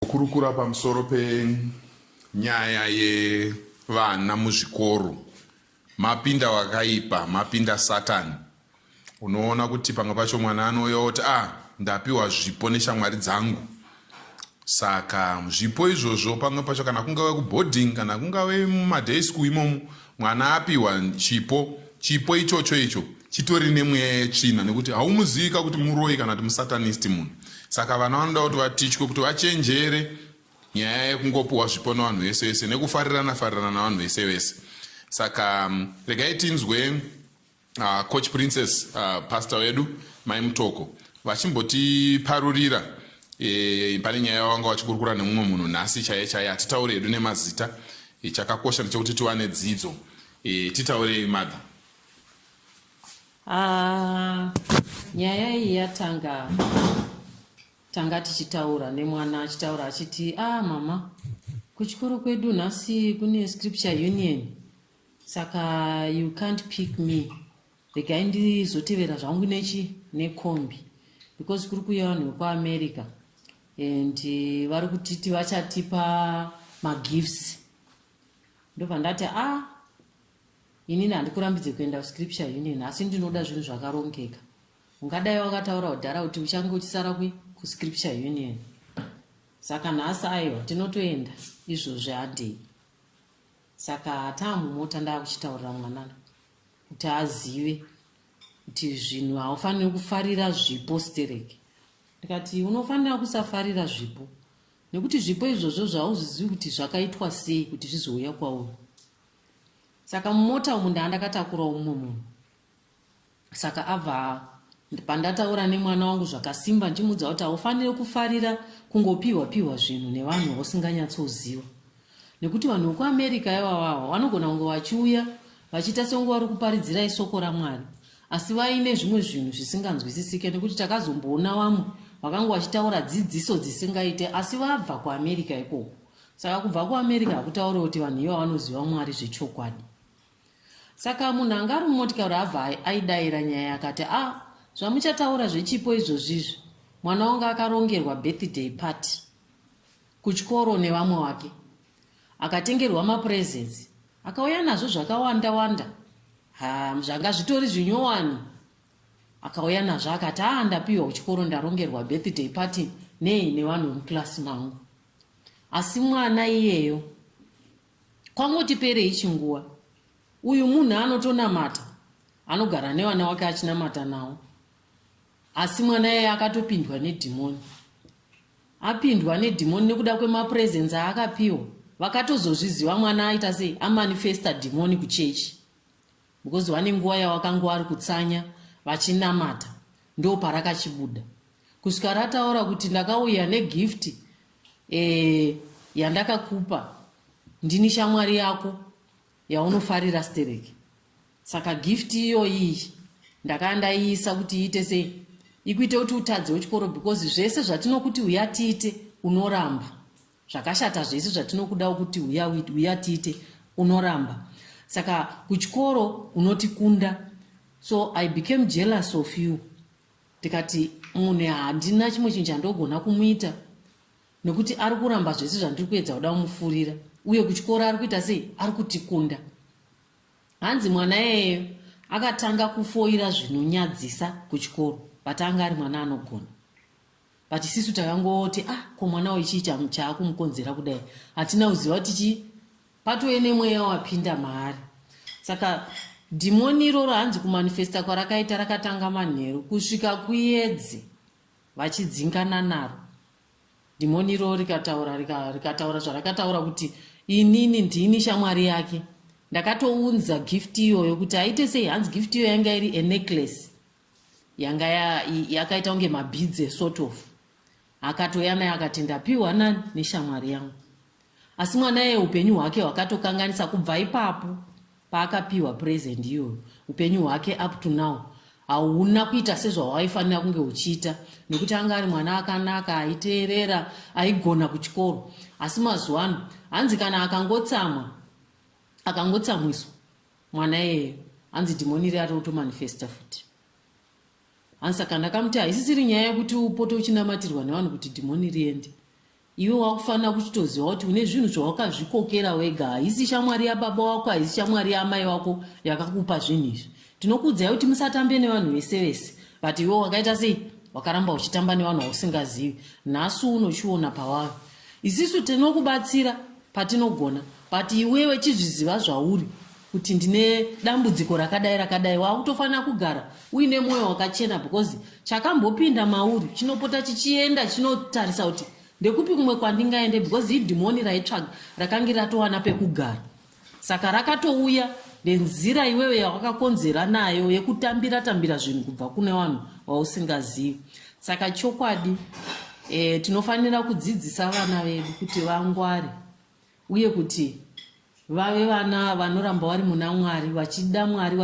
Kukurukura pamusoro penyaya yevana muzvikoro mapinda wakaipa, mapinda Satan. Unoona kuti pamwe pacho mwana anouya oti ah, ndapiwa zvipo neshamwari dzangu. Saka zvipo izvozvo pamwe pacho kana kungave kuboarding kana kungave mumaday school imomo mwana apiwa chipo chipo ichocho icho chitori nemweya yetsvina nekuti haumuzivika kuti muroyi kana kuti musatanist munhu saka vana vanoda kuti vatichwe kuti vachenjere nyaya yekungopiwa zvipo nevanhu vese vese nekufarirana farirana navanhu vese vese saka mm, regai tinzwe Uh, coach princess uh, pastor wedu mai mutoko vachimbotiparurira e, pane nyaya yavanga vachikurukura nemumwe munhu nhasi chaiye chaiye hatitaure hedu nemazita e, chakakosha ndechekuti tiwane dzidzo e, titaurei mother ah, nyaya iyi yatanga tanga tichitaura nemwana achitaura achiti ah mama kuchikoro kwedu nhasi kune scripture union saka you can't pick me regai ndizotevera zvangu nechi nekombi because kuri kuuya vanhu vekuamerica and eh, vari kutiti vachatipa magifts ndobva ndati a ah, inini handikurambidze kuenda kuscripture union asi ndinoda zvinhu zvakarongeka ungadai wakataura kudhara kuti uchange uchisara kwi kuscripture union saka nhasi aiwa tinotoenda izvozvi handei saka taamumota ndaakuchitaurira mwanana kuti azive kuti zvinhu haufaniri kufarira zvipo stereki ndikati unofanira kusafarira zvipo nekuti zvipo izvozvo zvauzvizivi kuti zvakaitwa sei kuti zvizouya kwauri saka mumota umu ndaandakatakurawo mumwe munhu saka abva pandataura nemwana wangu zvakasimba ndichimudza kuti haufanire kufarira kungopiwa piwa zvinhu nevanhu vausinganyatsoziva nekuti vanhu vekuamerica ivavawa vanogona kunge vachiuya vachiita senge vari kuparidzirai soko ramwari asi vaine zvimwe zvinhu zvisinganzwisisike nekuti takazomboona vamwe vakanga vachitaura dzidziso dzisingaite asi vabva kuamerica ikoko saka kubva kuamerica hakutaure kuti vanhu iva vanoziva mwari zvechokwadi saka munhu anga ari mumotikari abva aidaira nyaya akati a ah, zvamuchataura zvechipo izvozvizvi mwana wangu akarongerwa birthday party kuchikoro nevamwe wake akatengerwa mapurezensi akauya nazvo zvakawanda wanda ha zvanga zvitori zvinyowani akauya nazvo akati a ah, ndapiwa kuchikoro ndarongerwa birthday party nei nevanhu vemukilasi mangu asi mwana iyeyo Kwangotiperei chinguva. Uyu munhu anotonamata anogara nevana wake achinamata nawo asi mwana yeye akatopindwa nedhimoni apindwa nedhimoni nekuda kwemapresence aakapiwa vakatozozviziva mwana aita sei amanifesta dhimoni kuchechi because vane nguva yavakanga vari kutsanya vachinamata ndo parakachibuda kusvika rataura kuti ndakauya negift e, yandakakupa ndini shamwari yako yaunofarira stereki saka gift iyoyi ndakaya ndaiisa kuti iite sei ikuite kuti utadzewo chikoro because zvese zvatinokuti uya tiite unoramba zvakashata zvese zvatinokudawo kuti uya uya tiite unoramba saka kuchikoro unotikunda so i became jealous of you ndikati munhu handina chimwe chinhu chandogona kumuita nekuti ari kuramba zvese zvandiri kuedza kuda kumufurira uye kuchikoro ari kuita sei ari kutikunda hanzi mwana yeyo akatanga kufoira zvinonyadzisa kuchikoro but anga ari mwana anogona but isisu takangoti ah ko mwana uyu chii chaakumukonzera kudai hatina kuziva kuti chii patove nemweya wapinda maari saka dhimoni iroro hanzi kumanifesta kwarakaita rakatanga manheru kusvika kuyedze vachidzingana naro dhimoni iroro rikataura rikataura zvarakataura kuti inini ndini shamwari yake ndakatounza gift iyoyo kuti aite sei hanzi gift iyoyo yanga iri enecklace yanga yakaita kunge mabhidze sort of akatoya naye akati ndapiwa nani neshamwari yangu asi mwana yeye upenyu hwake hwakatokanganisa kubva ipapo paakapiwa present iyoyo upenyu hwake up to now hauna kuita sezvawaifanira kunge uchiita nekuti anga ari mwana akanaka aiteerera aigona kuchikoro asi mazuva ano hanzi kana akangotsamwa akangotsamwiswa mwana iyeyo hanzi dhimoni iri arotomanifesta futi hanzi saka ndakamuti haisisiri nyaya yekuti upote uchinamatirwa nevanhu kuti dhimoni riende iwe wakufanira kuchitoziva kuti une zvinhu zvawakazvikokera wega haisi shamwari yababa wako haisi shamwari yaamai wako yakakupa zvinhu izvi tinokuudzai kuti musatambe nevanhu vese vese but iwe wakaita sei wakaramba uchitamba nevanhu vausingazivi nhasi unochiona pawavo isisu tinokubatsira patinogona but iwewe chizviziva zvauri kuti ndine dambudziko rakadai rakadai wakutofanira kugara uine mwoyo wakachena because chakambopinda mauri chinopota chichienda chinotarisa kuti ndekupi kumwe kwandingaende because idhimoni raitsvaga rakange ratowana pekugara saka rakatouya nenzira iwewe yawakakonzera nayo yekutambira tambira zvinhu kubva kune vanhu vausingazivi saka chokwadi e, tinofanira kudzidzisa vana vedu kuti vangware uye kuti vave vana vanoramba vari muna mwari vachida mwari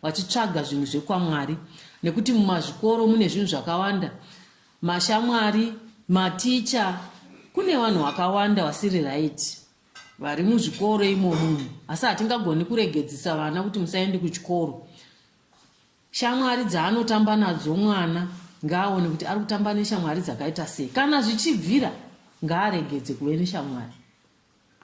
vachitsvaga zvinhu zvekwamwari nekuti mumazvikoro mune zvinhu zvakawanda mashamwari maticha kune vanhu vakawanda vasiri raiti vari muzvikoro imomo asi hatingagoni kuregedzisa vana kuti musaende kuchikoro Shamwari dzaanotamba nadzo mwana ngaaone kuti ari kutamba neshamwari dzakaita sei. Kana zvichibvira ngaaregedze kuve neshamwari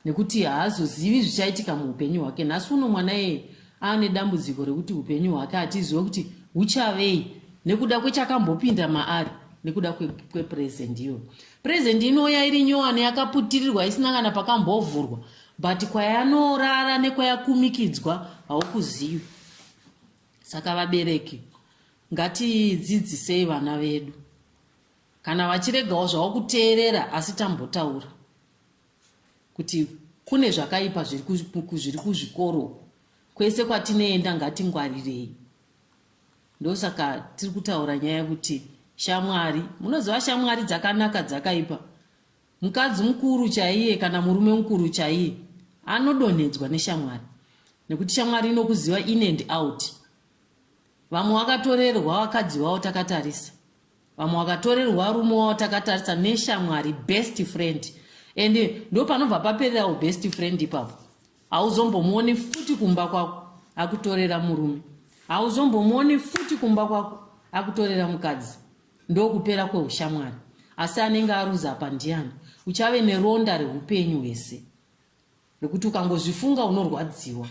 nekuti haazozivi zvichaitika muupenyu hwake. Nhasi uno mwana yeye aane dambudziko rekuti upenyu hwake hatizive kuti huchavei nekuda kwechakambopinda maari nekuda kwepurezendi iyoyo. Purezendi inouya iri nyowani yakaputirirwa isina kana pakambovhurwa but kwayanorara nekwayakumikidzwa haukuzivi. saka vabereki ngatidzidzisei vana vedu kana vachiregawo zvavo kuteerera asi tambotaura kuti kune zvakaipa zviri kuzvikoro kwese kwatinoenda ngatingwarirei ndosaka tiri kutaura nyaya yekuti shamwari munoziva shamwari dzakanaka dzakaipa Mukadzi mukuru chaiye kana murume mukuru chaiye anodonhedzwa neshamwari nekuti shamwari inokuziva in and out. Vamwe wakatorerwa vakadzi wavo takatarisa, vamwe wakatorerwa rume wavo takatarisa neshamwari best friend, and ndo panobva papererawo best friend ipapo. Hauzombomuoni futi kumba kwako akutorera murume, hauzombomuoni futi kumba kwako akutorera mukadzi. ndokupera kweushamwari asi anenge aruza apa ndiani uchave neronda reupenyu hwese rekuti ukangozvifunga unorwadziwa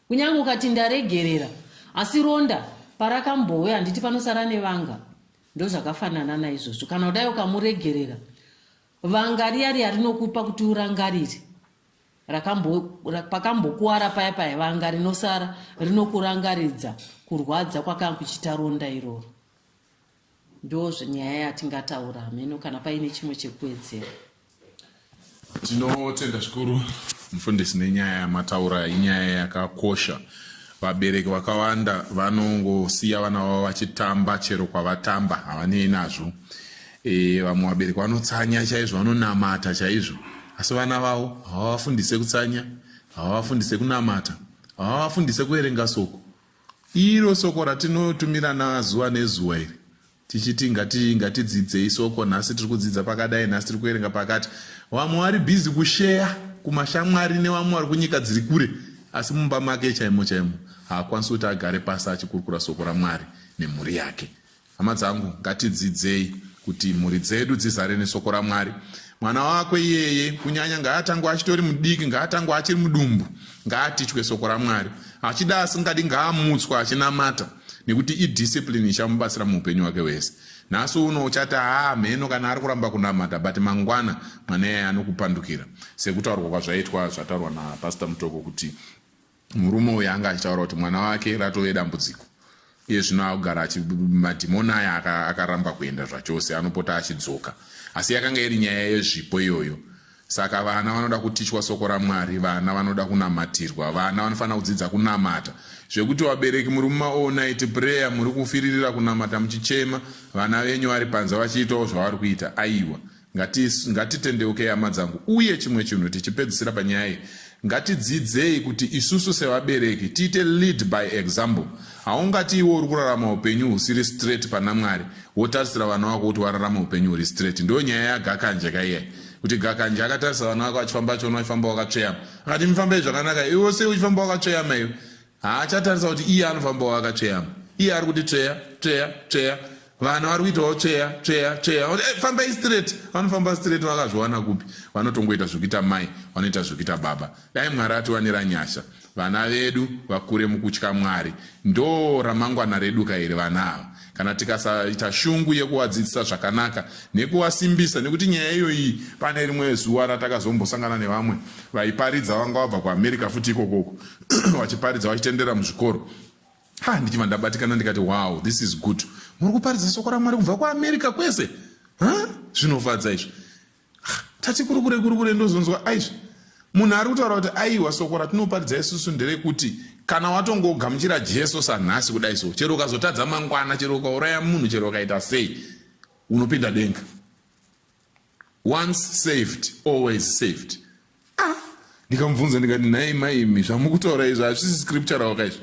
kunyange ukati ndaregerera asi ronda parakambouya handiti panosara nevanga ndozvakafanana naizvozvo kana kudai ukamuregerera vanga riya riya rinokupa kuti urangarire pakambokuwara paya paya vanga rinosara rinokurangaridza kurwadza kwakanga kuchita ronda iroro ndozve nyaya yatingataura hameno kana paine chimwe chekuwedzera tinotenda zvikuru mufundisi nenyaya yamataura inyaya yakakosha vabereki vakawanda vanongosiya vana vavo vachitamba chero kwavatamba havanei nazvo e, vamwe vabereki vanotsanya chaizvo vanonamata chaizvo asi vana vavo havavafundise kutsanya havavafundise kunamata havavafundise kuverenga soko Iro soko ratinotumirana zuva nezuva iri tichiti ngati ngatidzidzei soko nhasi tiri kudzidza pakadai nhasi tiri kuverenga pakati vamwe vari bhizi kusheya kumashamwari nevamwe vari kunyika dziri kure asi mumba make chaimo chaimo haakwanisi kuti agare pasi achikurukura soko ramwari nemhuri yake Hama dzangu, ngatidzidzei kuti mhuri dzedu dzizare nesoko raMwari. Mwana wako iyeye, kunyanya ngaatangwa achitori mudiki, ngaatangwa achiri mudumbu, ngaatichwe soko raMwari. Achida asingadi ngaamutswa achinamata, nekuti idiscipline ichamubatsira muupenyu hwake hwese. Nhasi uno uchati haa mheno kana ari kuramba kunamata, but mangwana mwana iyeye anokupandukira, sekutaurwa kwazvaitwa zvataurwa naPastor Mutoko kuti Murume uyu anga achitaura kuti mwana wake ratove dambudziko iye zvino akugara madhimoni aya akaramba kuenda zvachose anopota achidzoka asi yakanga iri nyaya yezvipo iyoyo saka vana vanoda kutichwa soko ramwari vana vanoda kunamatirwa vana vanofanira kudzidza kunamata zvekuti vabereki muri mumaonit prayer muri kufiririra kunamata muchichema vana venyu vari panze vachiitawo zvavari kuita aiwa Ngati- ngatitendeukei hama dzangu uye chimwe chinhu tichipedzisira panyaya iyi ngatidzidzei kuti isusu sevabereki tiite lead by example haungati iwe uri kurarama upenyu husiri straight pana mwari wotarisira vana wako kuti wararama upenyu huri straight ndiyo nyaya yagakanje kaiyai kuti gakanje akatarisa vana wake vachifamba achiona uchifamba wakatsveyama akati mifambei zvakanaka iwe sei uchifamba wakatsveyama iwe haachatarisa kuti iye anofambawo akatsveyama iye ari kuti tsveya tsveya tsveya vanhu vari kuitawo tsveya tsveya tsveya kuti eh, fambai straight vanofamba straight vakazviwana kupi vanotongoita zvekuita mai vanoita zvekuita baba dai mwari atiwanira nyasha vana vedu vakure mukutya mwari ndo ramangwana redu kairi vana ava kana tikasaita shungu yekuvadzidzisa zvakanaka nekuvasimbisa nekuti nyaya iyoyi pane rimwe zuva ratakazombosangana nevamwe vaiparidza vanga vabva kuamerica futi ikokoko vachiparidza vachitenderera muzvikoro ha ndichibva ndabatikana ndikati wow this is good muri kuparidza soko ramwari kubva kuamerica kwese zvinofadza izvi tati kurukure kurukure ndozonzwa aizvi munhu ari kutaura kuti aiwa soko ratinoparidza isusu nderekuti kana watongogamuchira jesu sanhasi kudai so chero ukazotadza mangwana chero ukauraya munhu chero ukaita sei unopinda denga once saved always saved ah ndikamubvunza ndikati nhai maimi zvamukutaura izvi hazvisi scriptural ka izvi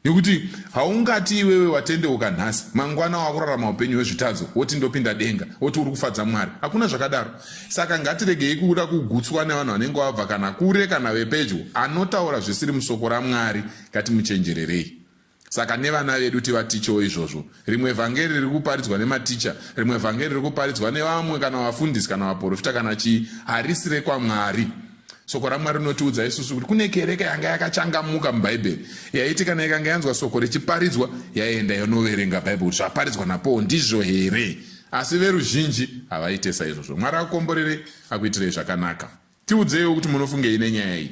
nekuti haungati iwewe watendeuka nhasi mangwana wakurarama upenyu hwezvitadzo woti ndopinda denga woti uri kufadza mwari hakuna zvakadaro saka ngatiregei kuda kugutswa nevanhu vanenge wabva kana kure kana vepedyo anotaura zvisiri musoko ramwari ngatimuchenjererei Saka nevana vedu tivatichewo izvozvo. Rimwe vhangeri riri kuparidzwa nematicha, rimwe vhangeri riri kuparidzwa nevamwe kana vafundisi kana vaporofita kana chii, harisi rekwaMwari. Soko raMwari rinotiudza isusu kuti kune kereke yanga yakachangamuka muBhaibheri yaiti kana ikanga yanzwa soko richiparidzwa yaienda yonoverenga Bhaibheri kuti zvaparidzwa naPaul ndizvo here. Asi veruzhinji havaite saizvozvo. Mwari akukomborerei, akuitirei zvakanaka. Tiudzeiwo kuti munofungei nenyaya iyi.